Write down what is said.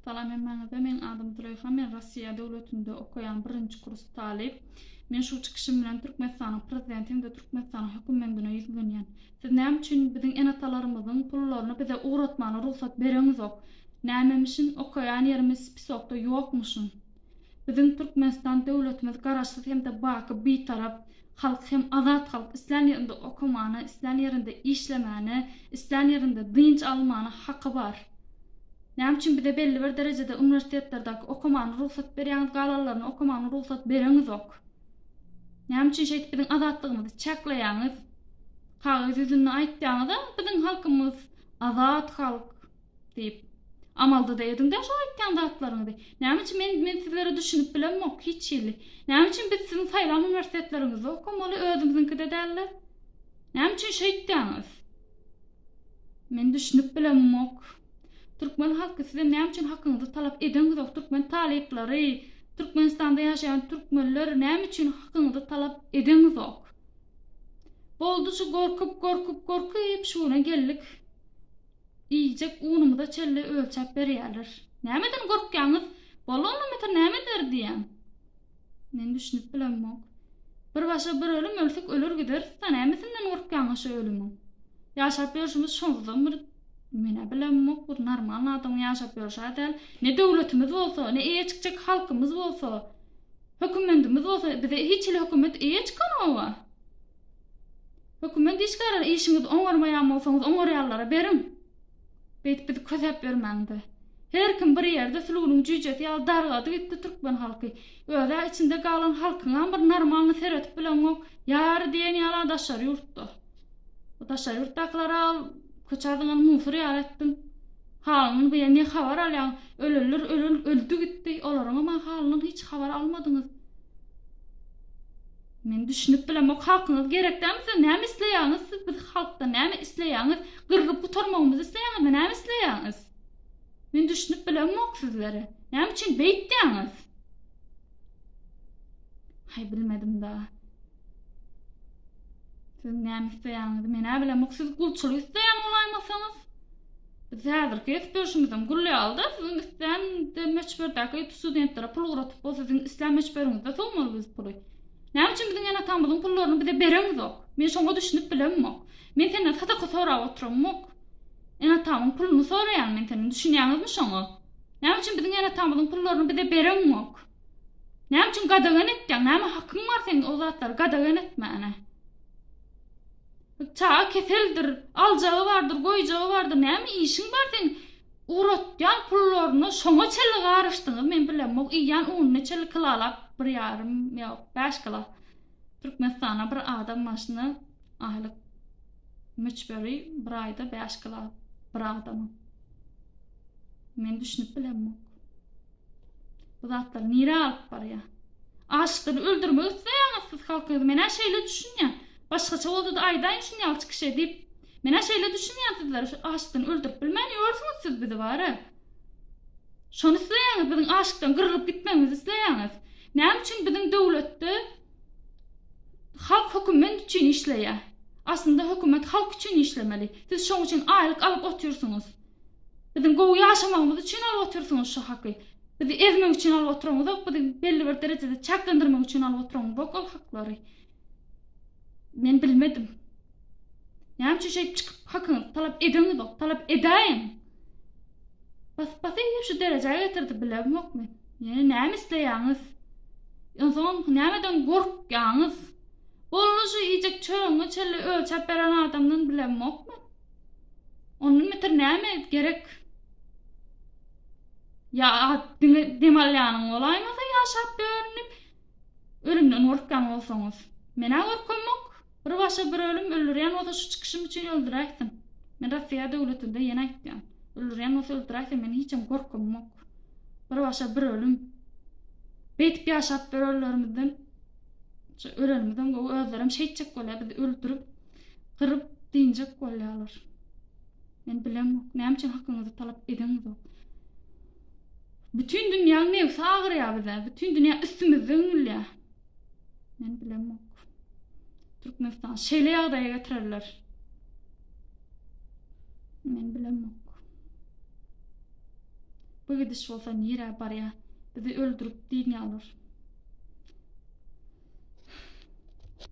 Salam hemmäňize, meň adym Züleýha, men Rossiýa döwletinde okaýan birinji kurs talyp. Men şu çykyşym bilen Türkmenistanyň Prezidenti hem-de Türkmenistanyň hökümendine ýüzlenýän. Siz näme üçin biziň ene-atalarymyzyň pullaryny bize ugratmana rugsat bereňizok? Nämemişin, okaýan ýerimiz spisokda ýokmuşyn? Biziň Türkmenistan döwletimiz Garaşsyz hem-de baky Bitarap halk hem azat halk islän ýerinde okamana, islän ýerinde işlemäne, islän ýerinde dynç almana haky bar. Näme üçin bize belli bir derejede uniwersitetlerdaki okamana rugsat berýäňiz galanlaryna okamana rugsat bereňizok? Näme üçin şeýdip biziň azatlygymyzy çäkleýäňiz? Kagyz ýüzünde aýtýaňyz-a biziň halkymyz azat halk. Diýip, amalda-da ediň-dä şo aýtýan zatlaryňyzy. Näme üçin men, men sizlere düşünip bilemok, hiç hili. Näme üçin biz siziň saýlan uniwersitetleriňizde okamaly, özümiziňkide däl-de? Näme üçin şeýtýäňiz? Men düşünip bilemok. Türkmen halky sizem näme üçin hakyňyzy talap edeňizok, türkmen talyplary, Türkmenistanda ýaşaýan türkmenler näme üçin hakyňyzy talap edeňizok? Boldy şu gorkup, gorkup, gorkup şuna geldik. Iýjek unumyza çelle ölçäp berýärler. Nämeden gorkýaňyz? Bolany mita nämeler diýýäň? Men düşünip bilemok. Bir başa bir ölüm ölsek öler gideris-da, nämesinden gorkýaňyz şu ölümiň? Ýaşap ýörşümiz şonuzam bir Men-ä bilemok, bir normalny adamyň ýaşap ýörşä däl. Ne döwletimiz bolsa, ne eýe çykjak halkymyz bolsa, hökümendimiz bolsa, bize hiç hili hökümet eýe çykanok-a. Hökümet işgärleri işiňizi oňarmaýan bolsaňyz oňarýanlara beriň. Beýdip bizi kösäp ýörmäňde. Her kim bir ýerde sülgüniň jüýjesi ýaly dargady gitdi türkmen halky. Özä içinde galan halkyňam bir normalny seretip bileňok. Ýary diýen ýala daşary ýurtda. O daşary ýurtdakylara al köçä zyňan musur ýaly etdiň. Halyny bu ýer ne habar alýaň. Ölenler ölen öldi gitdi. Olaryňam a halyndan hiç habar almadyňyz. Men düşünip bilemok halkyňyz gerek däl size näme isleýäňiz siz biz halkdan näme isleýäňiz gyrgyp gutarmagymyzy isleýäňizmi näme isleýäňiz men düşünip bilemok sizlere näme üçin beýtýäňiz hay bilmedim da siz näme isleýäňizi men-ä bilemok siz gulçulyk isleýän bolaýmasaňyz Biz häzirki ýetip ýörşümiziň gülli alda siziň islän möçberdäki studentlere pul ugratyp bol siziň islän möçberiňizde sowmaly biz puly. Näme üçin biziň ene-atamyzyň pullaryny bize bereňizok? Men şoňa düşünip bilemok. Men senden sadaka sorap oturamok. Ene-atamyň puluny soraýan men senden düşünýäňizmi şoňa? Näme üçin biziň ene-atamyzyň pullaryny bize bereňok? Näme üçin gadagan etýäň? Näme hakyň bar seň o zatlary gadagan etmäne? Çaga keseldir, aljagy bardyr, goýjagy bardyr, näme işiň bar seň? Ugratýan pullaryna şoňa çenli garyşdyňyz, men bilemok, iýýän ununy çenli kilalap bir ýarym, ýok, bäş kilo. Türkmenistana bir adam başyna aýlyk möçberi bir aýda bäş kilo bir adamyň. Men düşünip bilemok. Bu zatlar nirä alyp barýar? Açlykdan öldürmek isleýäňiz siz halkyňyzy menä şeýle düşünýän. Başgaça bolsady aýdaýyň şuny ýalçy kişä diýip. Menä şeýle düşünýän sizler şu açlykdan öldürip bilmän ýörsüňiz siz bizi bara. Şony isleýäňiz biziň açlykdan gyrlyp gitmegimizi isleýäňiz. Näme üçin biziň döwletde halk höküment üçin işleýär. Aslynda hökümet halk üçin işlemeli. Siz şoň üçin aýlyk alyp otyrsyňyz. Biziň gowy ýaşamagymyz üçin alyp otyrsyňyz şu haky. Bizi ezmek üçin alyp otyryňyzok, bizi belli bir derejede çäklendirmek üçin alyp otyryňyzok ol haklary. Men bilmedim. Näme üçin şeýdip çykyp hakyňyzy talap edeňizok, talap edäýiň. Bas bas eýip şu derejä getirdi bilemok men. Ýene näme isleýäňiz? Onsoň nämeden gorkýaňyz? Boldy şu iýjek çörüňi çelle ölçäp beren adamdan bilemok men. Ondan beter näme gerek? Ya at diňe dem alýanyň bolaýmasa ýaşap dörenip ölümden gorkýan bolsaňyz. Menä gorkamok. Bir başa bir ölüm öldürýän bolsa şu çykyşym üçin öldüräýsin. Men Russiýa döwletinde ýene aýtýan. Öldürýän bolsa öldüräýsin men hiçem gorkamok. Bir başa bir ölüm. Beýtip ýaşap dörenlerimizden ölenimizden gowy özlerim şeýtjek bolýar biz öldürip gyryp dynjak bolýarlar. Men bilemok, näme üçin hakyňyzy talap edeňizok. Bütin dünýäň nebsi agyrýar bize, bütin dünýä üstümizde üňülýär. Men bilemok. Türkmenistan şeýle ýagdaýa getirerler. Men bilemok. Bu gidiş bolsa nirä barýar? Bizi öldürip dynýarlar.